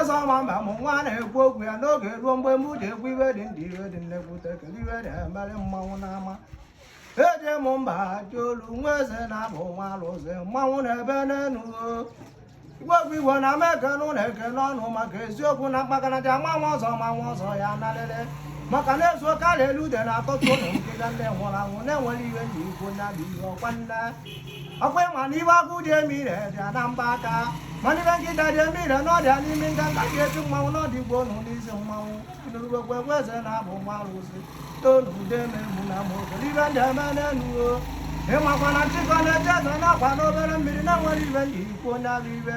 eze ọma mbem mụ nwa na-ekwu okwu ya n'oge ruo mgbe m ji ekwu iwe dị ndị iwe dị nnekwute kedu ive ji emere mmanwụ n'ama eje m mba ji olu nwa eze na-abụ nwa alụsị mmanwụ na-ebe n'enu igwegwu igwe na ama ekene ụlọ ekene ọnụ maka eziokwu na mkpakanaja manwa ọzọ manwa ọzọ ya nalele maka na ezu karịa elu ude na-atọtụ ụlọ nkega ndị nwụrụ anwụ na e nwere ive m ji ekwu nya bụ ive ọkwa nne ọkwa ịma na ive agụ ji eme ire dị ya na mbọ aka mana ive nkịta ji eme ire na ọ dị ya n'imi nganga ji etu mmanwụ n'ọdị igbo nụ n'isi mmanwụ nụrụgwegwe egwu eze na-abụ nwa arụsị tonu ude na-egbu na ma obere ive m ji eme n'elu o ịmakwa na nshịkọ na-echi eze na ọkwa n'obere mmiri na e nwere ive m ji ekwu nya bụ ive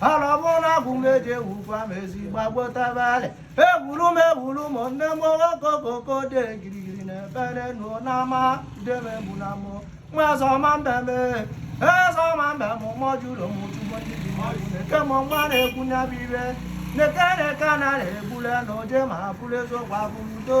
ala ọ bụ na agwụ m eji ewukwa m ezi gbagbotabalị ewuru m ewuru m nne m okokoko dị girigiri na-ebere nụ n'ama debe mụ na mụ nwa eze ọma mbem eze ọma mbem mọ jụrụ m chugbo ndị dị mmadụ na-eke m nwa na-ekwu nya bụ ive na-eke na-eke na na-egbule na oje ma bụrụ eziokwu abụmdo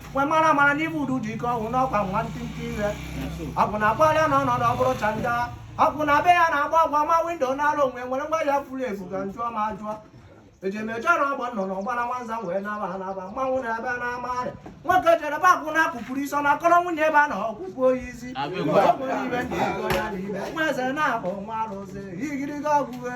wee mara amara na ive udu dị ike ọnwụ n'ọkwa nwa ntịntị ihe ọ bụ na akpọrịa na ọnọdụ ọ bụrụ chanda ọkụ na be ya na-agba agwa ma windo na-alụ onwe nwere ngwa ya furu efu ka njụọ ma ajụọ ejemeje na ọgbọ nọ n'ọgbara nwanza wee naba anaba mmanwụ na-ebe na amarị nwoke jere be akwụna akụpụrụ isi ọ na-akọrọ nwunye be ya na ọkpụkpụ oyi isi ọ bụrụ ive m ji ekwu ya na ive nwa eze na-abụ nwa arụsị igirigi ọgwụghe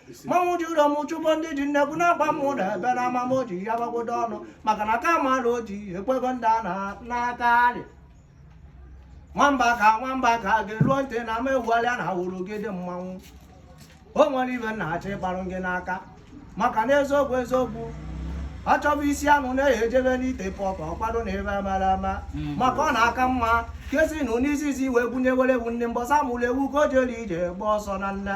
mmanwụ ji ụlọ m chụpọ ndị ji nnekwu na-agba m ụlọ ebe na ama m ji ya gbagodo ọnụ maka na ka mara o ji ekwego ndị a na- n'aka arị nwamba ka nwamba ka gị ruo ntị na ama egwualịa na awụrụ gị dị mmanwụ o nwere ive m na-achọ ịgbarụ gị n'aka maka na eziokwu eziokwu a chọba isi anụ na-eyi ejebe n'ite pọpụ ọkwado na ebe mara ama maka ọ na-aka mma kesi na n'isizi wee gwunye were ewu ndị mbọsa mụrụ ewu ka o jere ije gba ọsọ na nna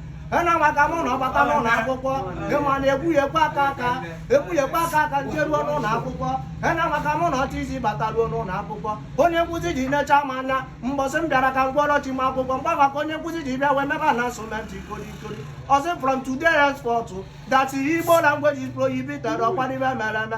ena maka mụ na ọ bata n'ụlọ akwụkwọ ịma na ekwughekwe aka ka m jeruo n'ụlọ akwụkwọ ena maka mụ na ọchị isi bataruo n'ụlọ akwụkwọ onye nkụzi ji necha m anya mbọsị m bịara ka m gwọrọ chi m akwụkwọ mgba maka onye nkụzi ji bịa wee mebe announcement kori kori ọ sị from today henceforth that igbo language is prohibited ọkwa na ive mere eme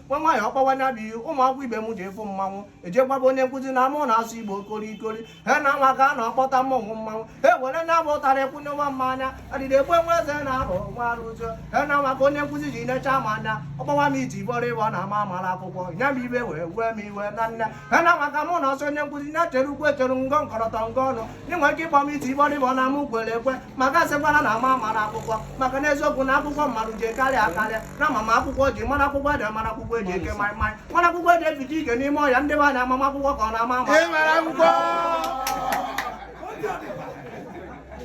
nwa nwaanyị ọ kpọwa nya bụ ive ụmụ akwụkwọ ibe m ji ịfụ mmanwụ eje gwaba onye nkụzi na mụ na-asụ igbo kori kori ha na nwa ka a na-akpọta mmọnwụ mmanwụ e were nya bụ ụtarị ekwu nwa mmanya adịdị egbe nwa eze na-abụ nwa arụsị ha na nwa ka onye nkụzi ji necha m anya ọ kpọwa m iti bọrịbọ na m amara akwụkwọ nya bụ ive wee wee m iwe na nne ha na nwa ka mụ nwa sị onye nkụzi nya chere ukwu echere ngọ nkọrọtọ ngọ ọnụ ị nwere ike ịkpọ m iti bọrịbọ na mụ kwere ekwe maka asịkwala na m amara akwụkwọ maka n'eziokwu na akwụkwọ mmadụ ji karịa akarịa na ama m akwụkwọ ji mara akwụkwọ ede mara akwụkwọ eji eke maịmaị mara akwụkwọ eji evicha ike n'ime ọhịa ndị be anyị ama m akwụkwọ ka ọ na-ama ama Ị mara akwụkwọ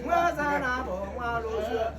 nwa eze na-abụ nwa alụsị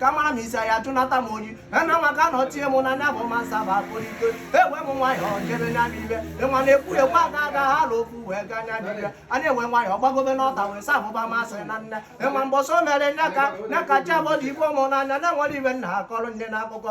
ka mara m isi ya jụnata m oyi na maka na o tie m na nya bụ ma nsa bụ akpụlite ewee m nwayọọ jebe nya bụ ibe ịma na ekwu ekwu aga aga ha ala okwu wee gaa nya bụ ibe anyị ewee nwayọọ gbagobe n'ọta wee sa abụba masị na nne ịma mbọsọ mere nya ka nya ka chi abọdụ igbo m n'anya na-enwere ibe nna akọrọ nne na akụkọ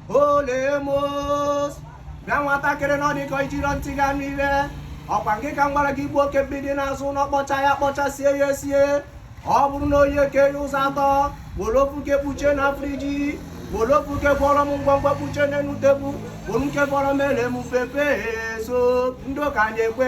olemos bịa nwatakịrị na ọ dị ka i jiro ntị ga n'ibe ọ kwa ngị ka m gwara gị gbuo oke mgbidi n'azụ ụlọ kpọcha ya kpọchaa sie ya esie ọ bụrụ na o yee kee ya ụzọ atọ were ofu nke kpuchie na friji were ofu nke gwọrọ m ngwọngwọ kpuchie n'elu tebụl were nke fọrọ mere m pepe soup ndị ụka anyị ekwe